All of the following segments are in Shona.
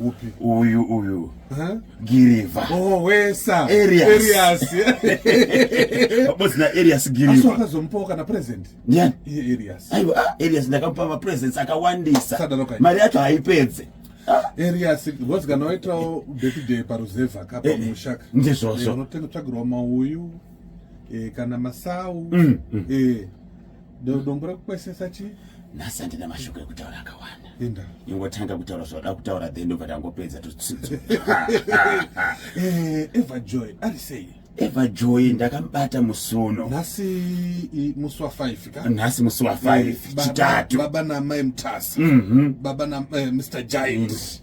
Upi? Uyu uyu. Huh? Giriva. Oh, wesa. Arias. Arias. Boss na Arias Giriva. Aso akazomupawo kana present. Nyani. Iye Arias. Aiwa, ah, Arias ndakamupa ma presents akawandisa. Sadaro kai. Mari yacho haipedze. Ah. Arias ngozi kana waitawo birthday paruzevha kapa eh, eh, mushaka. Ndizvozvo. Eh, Unotenga tsvagirwa mauyu. Eh, kana masau. Mm, mm. Eh. dombo rakukwesesa chii nhasi handina mashoko ekutaura akawanda ingotanga kutaura zvauda kutaura then ndobva tangopedza tutsitso eh, everjoy ari sei everjoy ndakamubata musuno nhasi musi wa5 ka nhasi musi wa5 eh, chitatu baba namai mutasa mhm. baba na eh, mr giant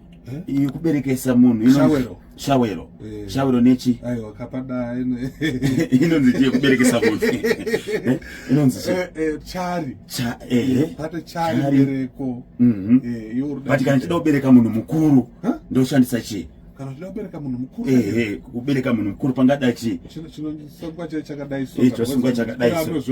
Eh? iyi kuberekesa munhu shawero shawero eh. shawero nechi aiwa kapada inonzi chii kuberekesa munhu eh? inonzi chari pate chari bereko mhm. but kana chida kubereka munhu mukuru ndoshandisa chii kana zvida kubereka munhu mukuru ehe kubereka munhu mukuru pangada chii chinosungwa chakadai so chakadai so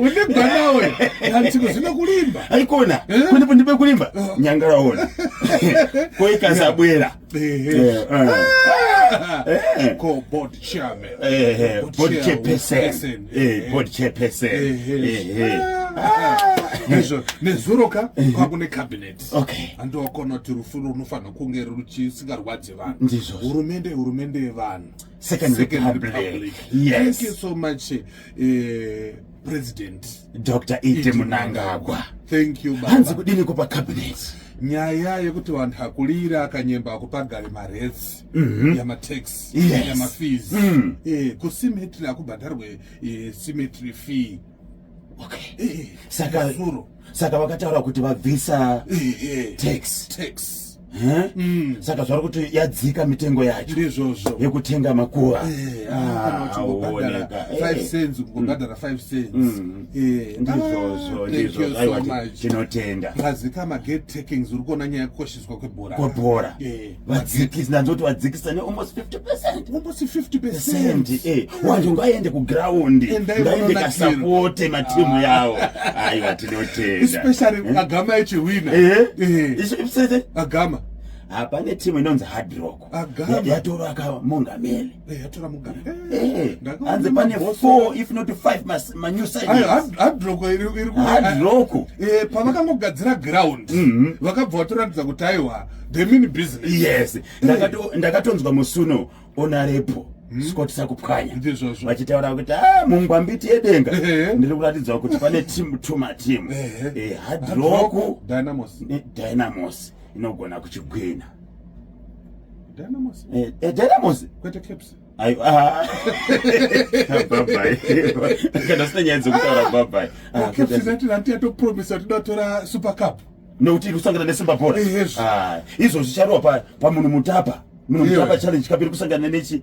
unebanaweaikuonandiekulimba nyangaraona koikasabwera nezuro ka kwakune cabinet andiwakona kuti rufu runofanira kunge ruchisingarwadze vanhu hurumende hurumende yevanhu Second, Second Republic. Republic. Yes. Thank you so much, uh, President Dr. Ite Munangagwa. Thank you, Baba. Hanzi kudini kupa cabinet? nyaya yekuti vanhu akulira akanyemba akupagari maretsi mm -hmm. yamatex yes. yamafees mm. e, kusimetry akubhadharwe e, eh, simetry fee saka saka vakataura kuti vabvisa tax tax Mm. saka zvari kuti yadzika mitengo yacho ndizvozvo yekutenga makuva eh, ah, tinotenda azika magate takings uri kuona nyaya yekukosheswa kwebhora kwebhora eh. vadzikisi ndanzoti vadzikisa ne almost 50 percent almost 50 percent eh wanje ngayende ku ground ngayende ka support ma team ah. yawo ayi vatinotenda especially eh? agama echi winner eh eh isu ibsete agama hapane team inonzi hard rock yatoro akamongameli Eh, yatora mugari eh, hanzi pane four if not five manew sidehadroko irihadroko eh, pavakangogadzira ground mhm. vakabva vatoratidza kuti aiwa the mini business yes ndakatonzwa musuno onarepo hmm? scott sakupwanya vachitaura kuti ah, mungwambiti yedenga ndiri kuratidza kuti pane tim to matimu hadroku dynamos inogona kuchigwina Dynamos. Eh, eh, Dynamos. Kwete Caps. Ayo. Ah. bye bye. Kana sina nyaya dzokutaura bye bye. Ah, ah Caps zati ranti yato promise kuti dotora Super Cup. Nokuti kusangana neSimba Boys. Eh, yes. Ah, izvo zvicharowa pa pamunhu mutapa. Munhu mutapa challenge kapiri kusangana nechi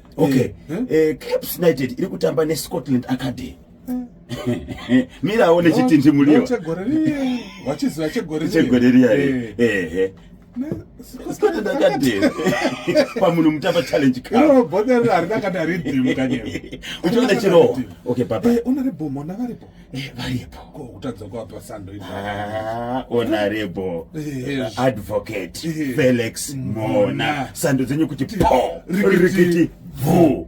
okay eh, eh? Eh, caps united iri kutamba nescotland academy mira aone chitindi muliwa wachiziva chegoreriya ehe scotland academy pamunhu mutamba challenge kaboderera harina kana ridhimu kanyema uchiona chirowa okay baba unaribomo navaribho Eh, varipo ko kutadza kuapa sando ah, honorable eh, advocate eh. felix mona sando dzenyu kuti po rikiti bvu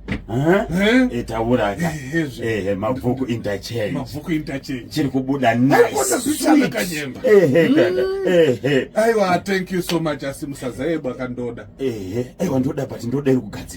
itauraka ehe mabvuku interchange chiri kubuda niceaiwa thank you so much asi musazaebwa kandoda ehe aiwa ndoda but ndoda iri kugadzira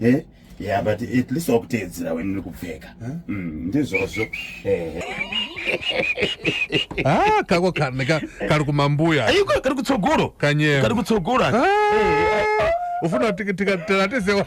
eh yeah but at least wakuteedzera wena uri kupfeka mm, ndizvozvo eh ah kako kane ka kari kumambuya ayiko kari kutsogoro kanyema kari kutsogoro ah ufuna tikatira tisewa